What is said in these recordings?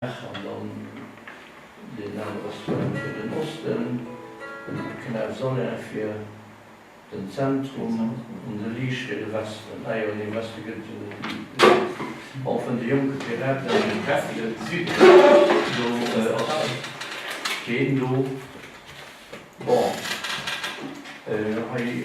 An dann den Al-Ostar fir den Osten, den Canal Solin fir den Zentrum an de Lys fir de Westen. Ah jo, nee, Westen gëtt et jo net méi. Och vun de jonke Piraten an dem Käppchen do ass keen do. Bon, hei.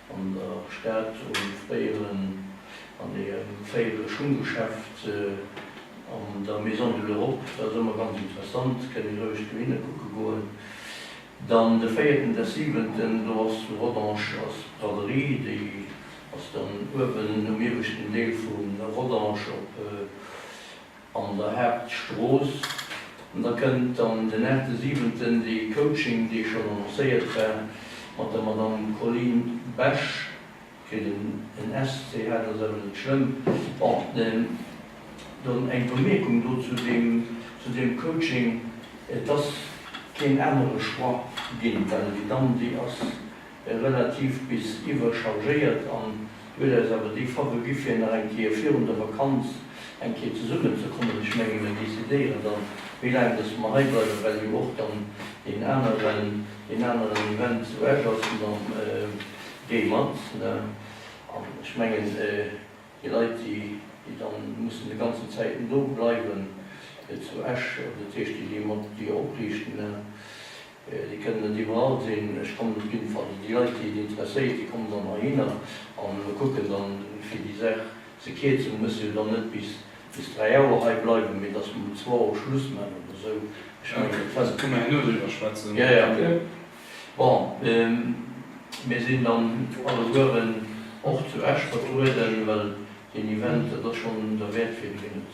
An der Stad Oulif Béieren an engem fréiere Schunggeschäft an der Maison de l'Europe, dat ass ëmmer ganz interessant, kënnt ee roueg do hinne kucke goen. Dann de véierten, dess siwenten, do ass zu Rodange ass d'Braderie, déi ass dann uewen um ieweschten Deel vu Rodange op. An der Haaptstrooss. An da kënnt dann den 8.7. dee Coaching, dee schonn annoncéiert war, mat der Madamm Colline Besch. Kritt en en S, C, H, dat ass awer net schlëmm. Bon, dann eng Bemierkung do zu deem, zu deem Coaching, Et ass keen anere Choix ginn, well déi Damm, déi ass. relativ bis iwwerchargéiert an huet eis awer déi Fawe gi fir nach eng Kéier virun der Vakanz eng Kéier zesummen ze kommen. Ech menge mir decidéieren da wéi laang dass mer hei bleiwen, well jo och dann deen aneren deen aneren Event zu Esch ass an dann géi mat ne an ech mengen déi Leit déi déi dann mussen de ganzen Zäiten do bleiwen zu Esch, dat heescht déi déi mat déi opriichten ne Déi kënnen net iwwerall sinn. Ech kommen op jidden Fall, déi Leit, déi et interesséiert, déi kommen dann heihinner a mir kucken dann, fir déi Saach ze kierzen. Mir mussen jo dann net bis dräi Auer hei bleiwen, mee dass mer um zwou Auer Schluss maachen oder esou. Ech mengen, dat fällt. Da kënne mer herno driwwer schwätzen. Jo, jo. Bon, mir sinn dann allegueren och zu Esch vertrueden, well deen Event, dat ass schonn derwäert, fir deen et.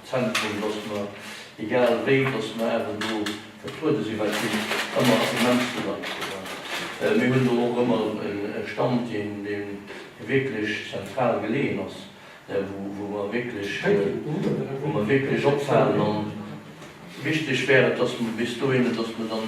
Zentrum, dass mer, egal wéi, dass mer awer do vertruede sinn, well et sinn ëmmer ass immens vill Leit do. A mir hunn do och ëmmer e Stand, deen wierklech zentral geleeën ass, wou mer wierklech, wou mer wierklech opfalen. A wichteg wär et, dass mer bis dohinner, dass mer dann,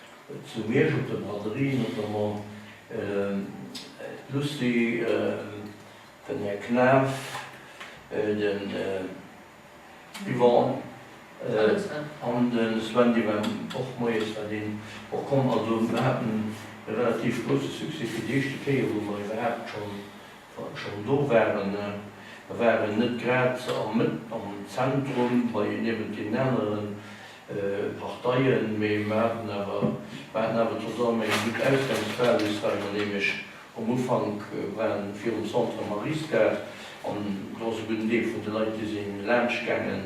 Zu Miersch op der Braderie notamment d'Lucie, den Här Knaff, den Yvon an de Sven, dee war och moies war deen och komm. Also mir haten e relativ grousse Succès fir déi éischte Kéier, wou mer iwwerhaapt schonn Wa ech schonn do waren, da war en net grad a Mëtt am Zentrum bei niewent deenen anere Parteien, mee mer haten awer, mer haten awer zesammen eng gutt Ausgangsbasis, well mer nämlech um Ufank waren, virum Centre Mary's-Gare, an do ass e gudden Deel vun de Leit, déi si laanscht gaangen.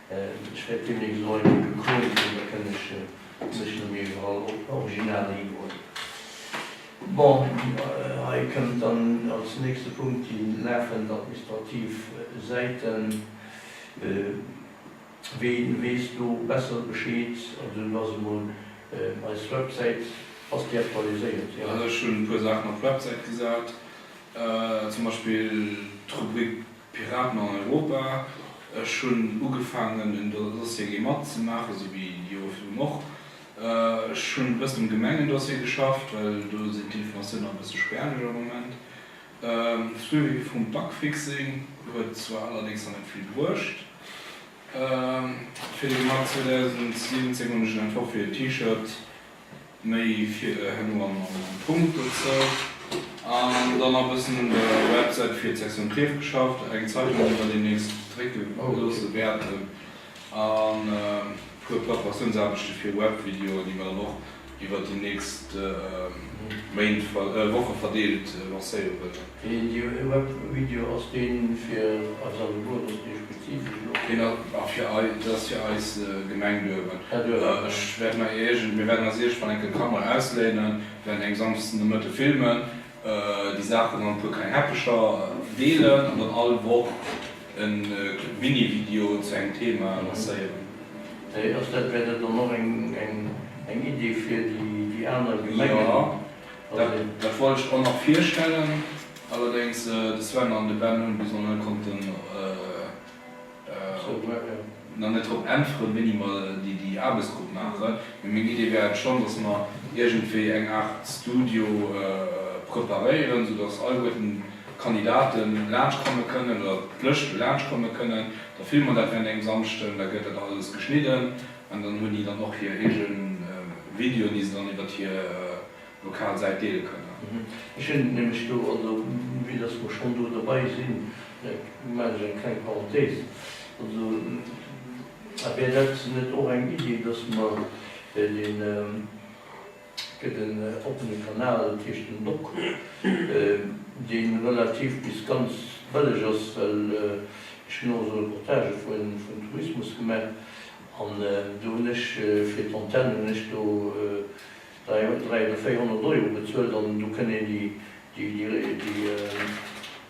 Ech wäert deemnächst och eng Kéier gekrönt ginn, da kënn ech mech nom iwwerall original hidroen. Bon, hei kënnt dann als nächste Punkt déi laafend administrativ Säiten. Wee weess do besser Bescheed? Also do ass emol eis Websäit, ass déi aktualiséiert? Jo. Also ech hunn e puer Saachen op d'Websäit gesat, zum Beispill d'Rubrik Piraten an Europa. Ech hunn ugefaangen en Dossier géi matzemaachen, esou wéi déi Jore virdrun och. Ech hunn e bëssen um Gemengendossier geschafft, well do sinn d'Informatiounen nach e bësse späerlech am Moment. De Suivi vum Bugfixing huet zwar allerdéngs nach net vill bruecht. Fir de März 2017 hunn ech en Entworf fir e T-Shirt Méi Fiedere herno am Punkt dozou. An dann nach e bëssen un der Websäit fir d'Sektioun Klierf geschafft. Eng Zeitung, déi mer deemnächst drécke loosse wäerten. An e puer Preparatiounsaarbechte fir Webvideoen, déi mer dann och iwwer déi nächst Woche verdeelt lancéiere wëllen. Deen jo ee Web Video ass deen fir eis allegueren ass, dee spezifesch elo. Deen ass fir eis, dat ass fir eis Gemeng Duerwen. Här Duerwen. Ech wäert mer iergend, mir wäerten eis iergendwann enke Kamera ausléinen, wäerten eng Samsden de Mëtte filmen, déi Saachen an e puer kleng Häppecher deelen an dann all Woch e Minivideo zu engem Thema lancéieren. Ass dat, wär dat dann och eng Idee fir déi aner Gemengen? Jo. Dat wollt ech och nach virstellen, allerdéngs de Sven an de Ben hunn bis elo net konnten nach net drop äntweren, wéini mer déi Aarbechtsgrupp maachen. Mee meng Idee wär et schonn, dass mer iergendwéi eng Aart Studio preparéieren, sou dass alleguerten d'Kandidate laanscht komme kënnen oder d'Lëschte laanscht komme kënnen. Da filme mer dat während engem Samschden, da gëtt dat alles geschnidden, An dann hunn déi dann och hir eege Videoen, déi se dann iwwert hir lokal Säit deele kënnen. Ech hunn nämlech do, also vue dass mer schonn do derbei sinn, maachen ech eng kleng Parenthèse, also wär dat net och eng Idee, dass mer dee. Et gëtt en oppene Kanal tëscht dem Dock, dee relativ bis ganz bëlleg ass, well ech hunn och esou Reportagë vun Tourismus gemaach an do hunn ech fir d'Antenne hunn ech do 300 oder 400 Euro bezuelt an do kënnt een déi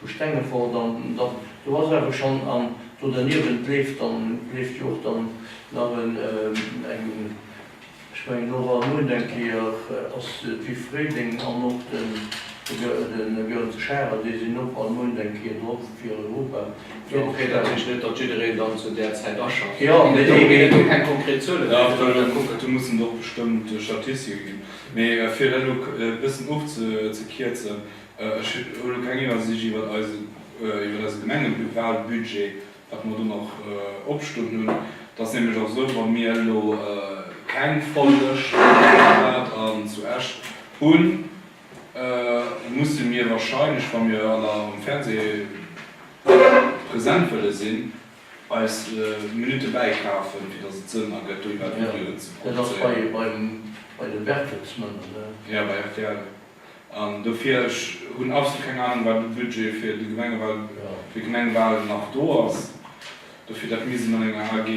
Vu Stengefort dann, dann do ass awer schonn, an do derniewent leeft dann, leeft jo och dann nach en, eng, ech mengen do war muent eng Kéier, ass d'Viv Fréiléng an och de Göerns Charel, déi sinn och all muent eng Kéier drop fir Europa. Jo, okay, dat heescht net, datt jiddereen dann zu där Zäit aschafft. Jo, mee do ginn et jo keng konkret Zuelen, mee et ass jo. Do mussen och bestëmmt Statistike ginn. Mee fir dat elo e bëssen ofzekierzen, Ech hu lo keng Iwwersicht iwwert eise Gemengeplupalbudget, wat mer do nach opstoen hunn. Et ass nämlech och esou, wa mir elo keng voll Lëscht zu Buergerwald an zu Esch hunn, musse mir warscheinlech, wa mir an der am Fernseh present wëlle sinn, eis Minutte bäikafen, fir datt et Sënn ergëtt, do iwwer Videoen ze produzéieren. Dat ass bei de Bertelsmänner, ne? Jo, bei rtl. An dofir, ech hunn absolut keng Ahnung, wat u Budget fir de Gemengewal, fir d'Gemengewalen nach do ass. Dofir, dat misst een an enger AG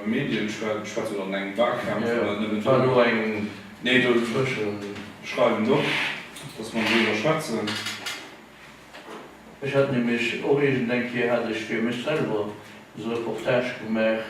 Medien schwätzen oder an engem Walkampf, oder net méi do. Nee, do schreiwen se op, dass mer driwwer schwätzen. Ech hat nämlech och iergendeng Kéier hat ech fir mech selwer esou e Reportage gemaach,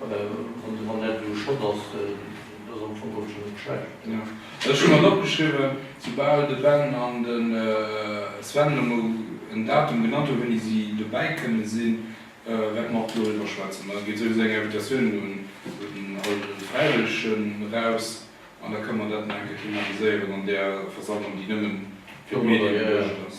Wann dat elo Schott ass, dann ass am Fong och scho net schlecht. Jo, ech hu mer opgeschriwwen, soubal de Ben an de Sven elo mol en Datum genannt hu wéini si dobäi kënne sinn, wäerte mer och doriwwer schwätzen. Da geet souwisou eng Invitatioun un all déi Fräiwëllegen eraus an da kënne mer dat nach eng Kéier thematiséieren an där Versammlung, déi nëmmen fir d'Medien geduecht ass.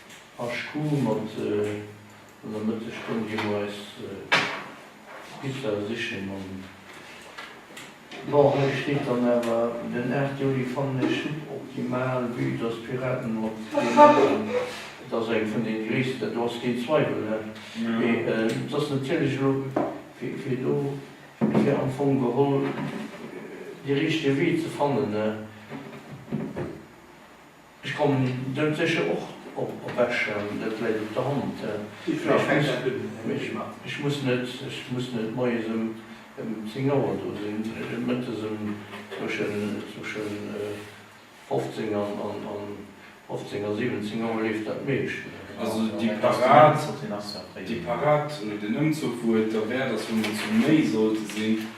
HQ mat an der Mëttesstonn gi mer eis Pizza sichen an bon hei steet dann awer den 8 Juli fannen ech suboptimal vue dass d'Piraten mat Dir maachen. Et ass eng vun den gréissten, do ass keen Zweiwel hä? Mee et ass natierlech elo fir do fir am Fong geholl dee richtege Wee ze fannen hä? Ech kommen dem sécher och op Esch an, dat läit op der Hand. Ech muss net, ech muss net moies em 10 Auer do sinn, mëttes em zwëschen 15 a 15 a 17 Auer leeft dat meescht. Also déi Parad, déi Parad oder den Ëmzuch, wou et derwäert ass, wou mer zu méi sollte sinn,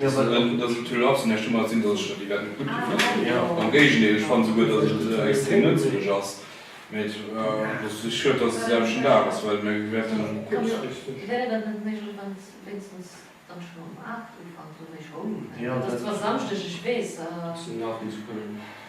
Dass et en Tüll ass, mä ech hu mer gesinn, dass ech der déi wäert net gutt dofannen. Am Géigendeel, ech fanne souguer, dass et extrem nëtzlech ass. Mä et ass just schued, dass et de selwechten Dag ass, well mir wäerten kuerzfristeg.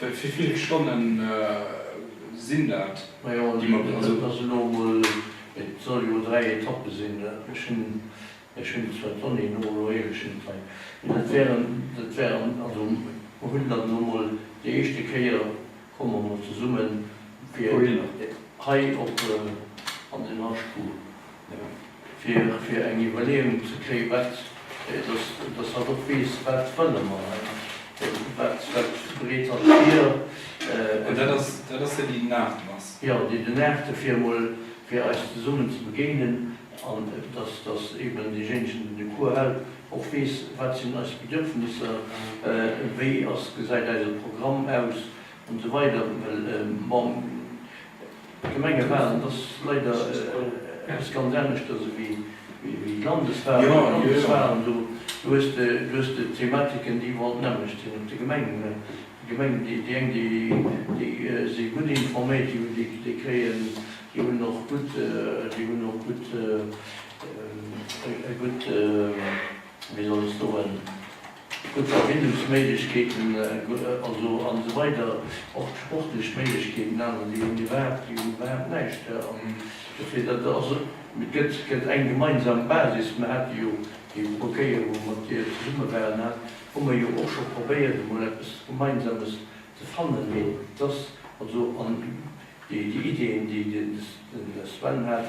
Wéi vill Stonnen sinn dat? Majo dat ass elo emol, et soll jo 3 Etappe sinn, ech hunn ech hunn zwar d'Donnéeën och elo eegeschent hei, mee dat wären dat wären also mer hunn dann elo emol déi éischte Kéier komme mer emol zesummen fir hei op an den Haschkuch. fir eng Iwwerleeung ze kréien, wat, dass hatt och weess, wat wëlle mer hei, wat breet hatt vir. Mä dat ass, dat ass déi, déi den Aachten ass. Jo, déi den Aachten, fir emol fir eis zesummen ze begéinen an dass, dass eben deejéinegen, deen de Cours hält, och weess, wat sinn eis Bedürfnisser, wéi ass, gesäit eise Programm aus, an esou weider. Well, bon. D'Gemengewalen, dat ass leider eppes ganz aneschters ewéi d'Landeswalen. Bei de Landeswalen, do hues de, do hues de Thematiken, déi iwwerall d'nämmlecht sinn op de Gemengen. Déi Gemengen, déi, déi eng, déi, déi si gutt informéiert, déi hunn, déi, déi kréien, déi hunn och gutt, déi hunn och gutt, e gutt, wéi soll ech soen, Gutt Verbindungsméiglechkeeten also an esou weider Och d'sportlech Méiglechkeeten, déi aneren, déi hunn iwwerhaapt, déi hunn iwwerhaapt näischt hei. An dofir, dat ass et gëtt, et gëtt eng gemeinsam Basis. Mir hate jo déi puer Kéier, wou mer mat Dir zesumme waren, hat, hu mer jo och scho probéiert emol eppes Gemeinsames ze fannen. Mee et ass also an déi Ideeën, déi den Sven hat,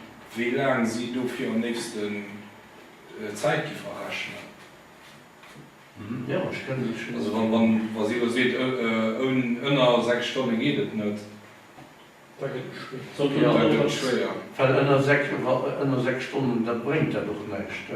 Wéi laang si dofir am léifsten Zäit gi verrechnen? Also wa si elo seet, ënner 6 Stonne geet et net, da gëtt et schwéier. Well ënner 6 Stonnen, da bréngt dat och näischt.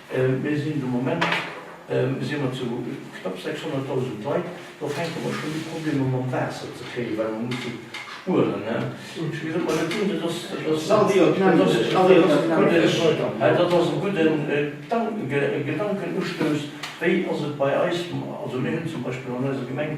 Mir sinn de Moment si mer zu knapp 600.000 Leit, do fänke mer schonn u Problemer mam Waasser ze kréien, well mer musse spueren. Ech ginn et mer net un, dat ass e gudden Gedankenustouss. Wéi ass et bei eis? Also mir hunn zum Beispill an eiser Gemeng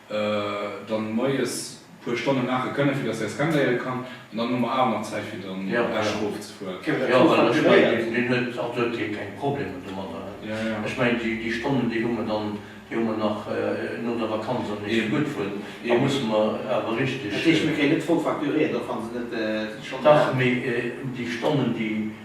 dann moies puer Stonne maache kënne fir dass säi Scan léiere kann an dann hu mer awer nach Zäit fir dann Esch erof ze fueren. Jo well ech mengen deen huet, also huet hie keng Problemer domadder, ech mengen déi Stonnen déi hu mer dann, déi hu mer nach no der Vakanz am meeschte gutt vun, da musse mer awer richteg. Dat heescht mir kréien net voll facturéiert och wann se net schonn. Dach mee déi Stonnen déi.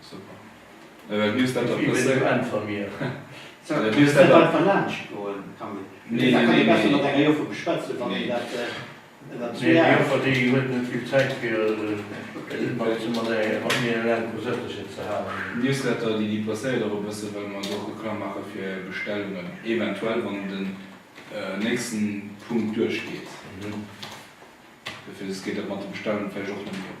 Super. Mee wat misst dat da passéieren? Newsletter déi déi passéiert och e bësse well mer do och Reklamm maache fir Bestellungen eventuell wann den nächsten Punkt duerch geet. Dofir geet dat mat de Bestellungen vläicht och net méi op.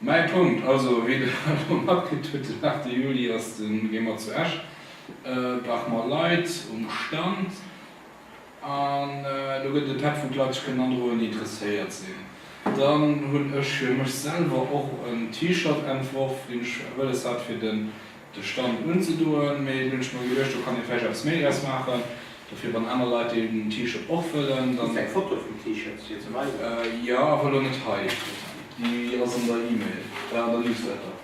Mäi Punkt, also wéi Der elo matkritt hutt, den 8 Juli ass de Gemer zu Esch, brauche mer Leit um Stand an do gëtt et e Päck vu Leit, sech kënnen androen, déi interesséiert sinn. Dann hunn ech fir mech selwer och en T-Shirt entworf, deen ech wëlles hat fir den. de Stand unzedoen, mee dunn hunn ech mer geduecht, do kann ee vläicht eppes méi draus maachen, dofir wann aner Leit deen T-Shirt och wëllen, dann. Hues de eng Foto vum T-Shirt fir ze weisen? Jo, awer lo net hei, déi ass an der E-Mail, an der Newsletter,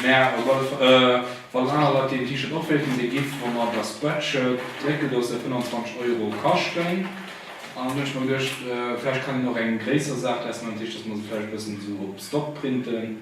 mä op alle Fall wann aner Leit deen T-Shirt och wéilten, dee giff wa mer der Spreadshirt drécken, do ass der 25 Euro kaschten, an dunn hunn ech mer geduecht, vläicht kann een och eng gréisser Saach draus maachen, dat heescht, dass mer se vläicht e bëssen esou op Stock printen.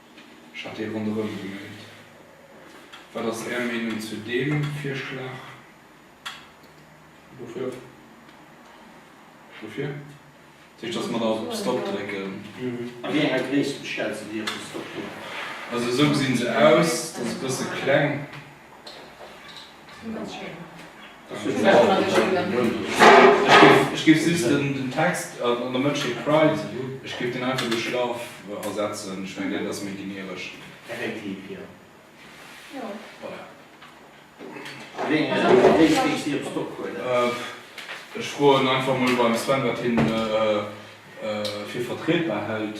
Ech hat ee ronderëm gemellt. Wat ass Är Meenung zu deem Virschlag? Dofir. Dofir? Dat heescht, dass mer da op Stop drécken. A wéi enger Gréisst bestells de dir op de Stop-Knopf? Also esou gesinn se aus. Dat ass e bësse kleng. Ech géif just den Text an der Mënsch dee cryt, ech géif deen einfach duerch love ersetzen. Ech mengen, dat ass méi generesch. Effektiv, jo. Jo. Voilà. Wéi eréischt géifs de op Stock huelen? Ech froen einfach mol beim Sven, wat hie fir vertrietbar hält.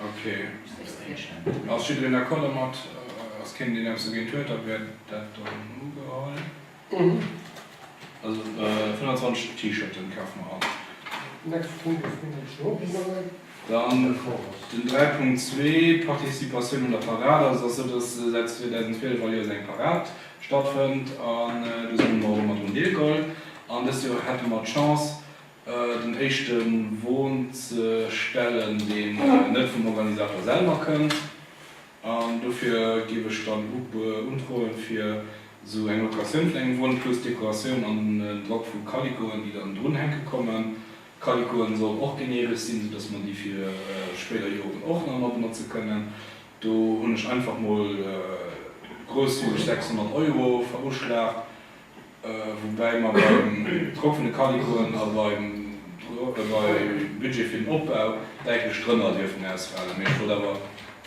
Ok, ass jiddereen d'accord domat? Ass keen deen eppes dogéint huet, da wäert dat dann ugeholl. Also 25 T-Shirten kafe mer all. Nächste Punkt ass deen deen ech scho opginn hunn. Dann den 3.2, Participatioun un der Parad. Also et ass sou, dass säit 2012 all Joers eng Parad stattfënnt an do si mer och ëmmer drun deelgeholl. An dëst Joer hätte mer d'Chance den éischte Won ze stellen, deen net vum Organisator selwer kënnt. An dofir géif ech dann undroen, fir esou eng Locatioun vun engem Won plus Dekoratioun an en Drock vu Kalikoen, déi dann drunhänke kommen. Kalikoen soll och geneeresch sinn, sou dass mer déi fir spéider Joren och nach emol benotze kënnen. Do hunn ech einfach mol grousszügeg 600 Euro veruschlagt. Woubäi mer beim Drock vun de Calicoen a beim Budget fir den Opbau däitlech drënner dierfen ausfalen. Mee ech wollt awer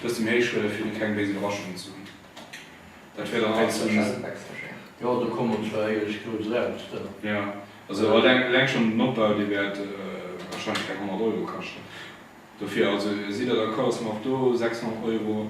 dëst um Héicht huelen, fir do keng béis Iwwerraschungen ze hunn. Dat wär dann alles sou. Eleng schonn den Opbau, dee wäert warscheinlech keng 100 Euro kaschten. Dofir, also sidd Der d'accord, dass mer och do 600 Euro.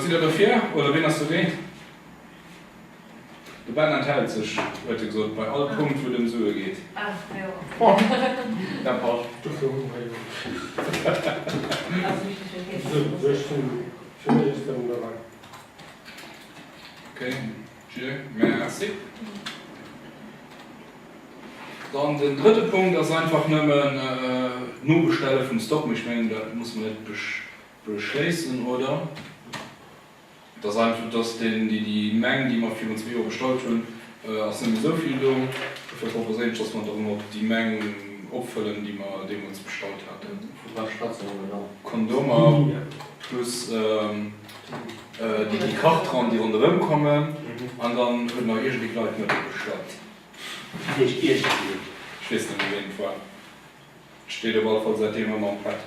Sidd der dofir oder ween ass dogéint? De Ben enthält sech, huet e gesot, bei all Punkt, wou et ëm Sue geet. Dat passt. Okay, je merci. Dann den drëtte Punkt ass einfach nëmmen d'Nobestelle vum Stock. Mee ech mengen, dat musse mer net Beschléissen, oder? Et ass einfach, dass den, déi, déi Meng, déi mer virun zwee Joer gestallt hunn, ass net méi esou vill do. Dofir proposéieren ech, dass mer dann och déi Meng opfëllen, déi mer deemools gestallt haten. Vu wat schwätze mer do dann? Kondomer plus déi, déi Kartrand, déi ronderëm kommen. An dann huet nach iergendee Kleit net opgeschwat. Wat heescht iergendeen? Ech weess net méi, wien et war. Et steet op alle Fall säitdeem ëmmer am Pad.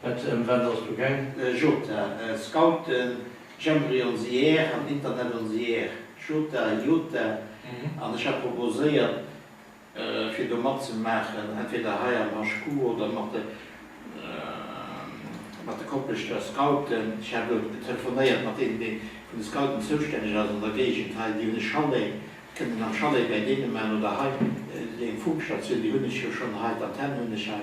Wat ëm wat ass do gaang? Jota, Scouten, Jamboree on the Air an Internet on the Air, Jota, Jota, an ech hat proposéiert fir do matzemaachen, entweder hei am HQ oder mat de mat de Kopleschter Scouten. Ech hat elo telefonéiert mat deenen, dee vun de Scouten zoustänneg ass an der Géigend hei, déi hunn e Chalet, déi kënnen am Chalet bäi deene maachen oder hei, eng Funkstatioun, déi hunn ech jo schonn hei, d'Antenne hunn ech hei,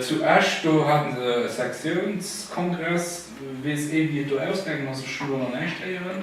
Zu Esch do hate se e Sektiounskongress. Weess ee wéi et do ausgaangen ass? Ech hu lo nach näischt héieren.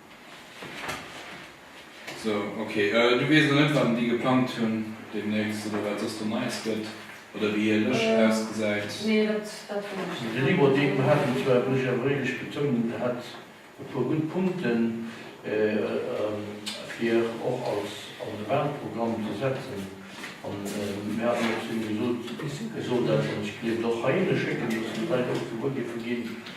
Sou, ok. Du weess nach net, wat déi geplangt hunn deemnächst oder wat soss do Neies gëtt oder wéi hir Lëscht ausgesäit? Nee, dat weess ech net. Den Ivo Depen hat et zwar, muss ech awer éierlech betounen, e hat e puer gutt Punkten, fir och als an de Wahlprogramm ze setzen. An mir haten och zu him gesot, e soll dat, an ech gleewen och heihinne schécken, dass déi Leit och gewuer géife ginn,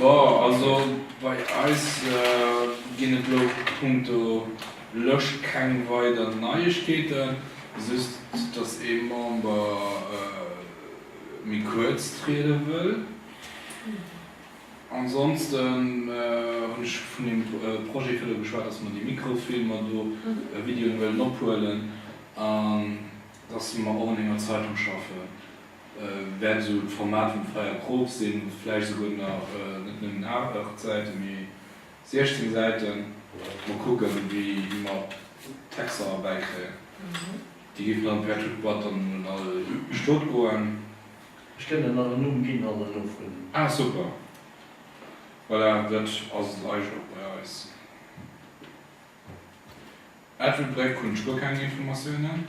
Bon, also bei eis ginn et elo punkto Lëscht keng weider Neiegkeeten, just datt ee Member méi kuerz triede wëll. Ansonsten hunn ech vun deem Projet elo geschwat, datt mer déi Mikrofilmer do, Videoen, wëllen ophuelen an datt mer och un enger Zeitung schaffen, wäert esou d'Format vum Freier Krop sinn, vläicht esouguer nach net nëmmen 8 Säiten, mee 16 Säiten. Mol kucken, wéi mer d'Texter erbäi kréien. Déi géifen dann per Touteboîte dann un all Stot goen. Ech kënnt en an Numm ginn an en ofhuelen. Ah super, voilà, dat ass et eigentlech och bei eis. Edward Breck hunn ech guer keng Informatiounen.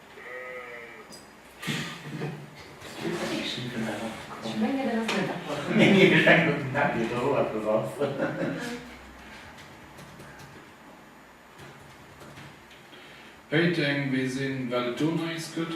Péiteng, Wee sinn, wat et do Neies gëtt?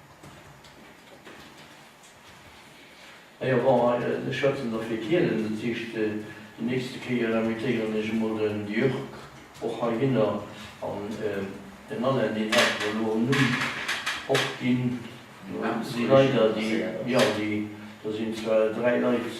A jo, bon, ech schwätzen da fir Kielen, dat heescht, déi nächste Kéier invitéieren ech emol den Jörg och heihinner. An den Alain, deen hat mer elo en Numm och ginn. Dat si leider déi, jo, déi, do sinn zwar dräi Leit,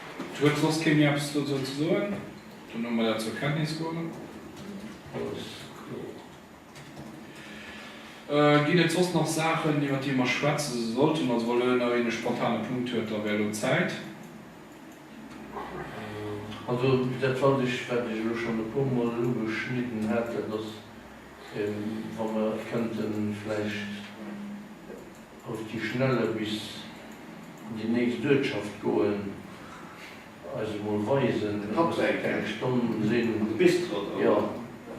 Et huet soss kee méi eppes dozou ze soen. Dann hu mer dat zur Kenntnis geholl. Alles kloer. Ginn et soss nach Saachen, iwwert déi mer schwätze sollten? Also, wa lo nach een e spontane Punkt huet, da wär lo d'Zäit. Also, dat fand ech, wat ech elo schonn e puermol ugeschnidden hat, dat ass, wa mer kënnte vläicht, Auf die Schnelle bis an die nächst Uertschaft goen, eis emol weisen, dass et keng Stonn sinn, jo,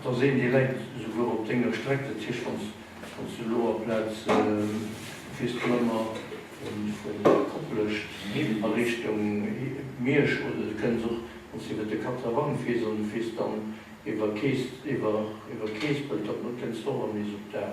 da sinn déi Leit souguer op denger Streck, dat heescht, wann s de elo aplaz wiers du ëmmer vun Koplescht a Richtung Miersch, oder du kënns och, wann s iwwert de Katrewang fiers an du fiers dann iwwer Keespelt, dann kënns du och erëm nees op d'Ae.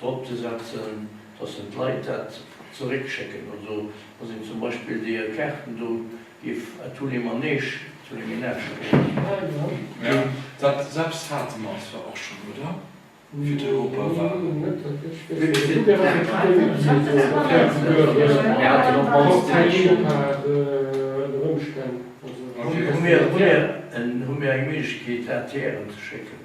drop ze setzen, dass den d'Leit dat zeréck schécken. Also dass een zum Beispill déi hir Kaarten do géif à tous les manèges zu de Menage schécken. Dat selwecht hate mer zwar och schonn, oder? Fir d'Europawalen. Hu mir eng Méiglechkeet, ATRen ze schécken?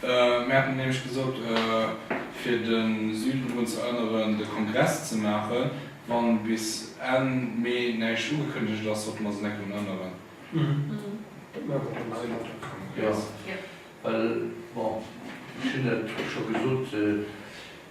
Mir haten nämlech gesot, fir de Süden drun ze erënneren, de Kongress ze maachen. Wa bis Enn Mee näischt ugekënnegt ass, sollte mer se net drun erënneren. Dat maache mer dann hei mat dem Kongress. Jo, well, bon, ech hunn et scho gesot,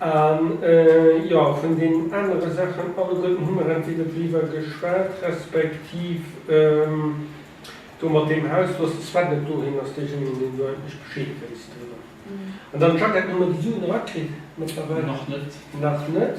A jo, vun den anere Saachen alleguerten hu mer entweder driwwer geschwat, respektiv do mat deem Haus, wou de Sven net doheem ass, deejéinegen, deen do endlech Bescheed wéisst driwwer. An dann, Jacquette, hu mer déi Suen erakritt mëttlerweil? Nach net. Nach net.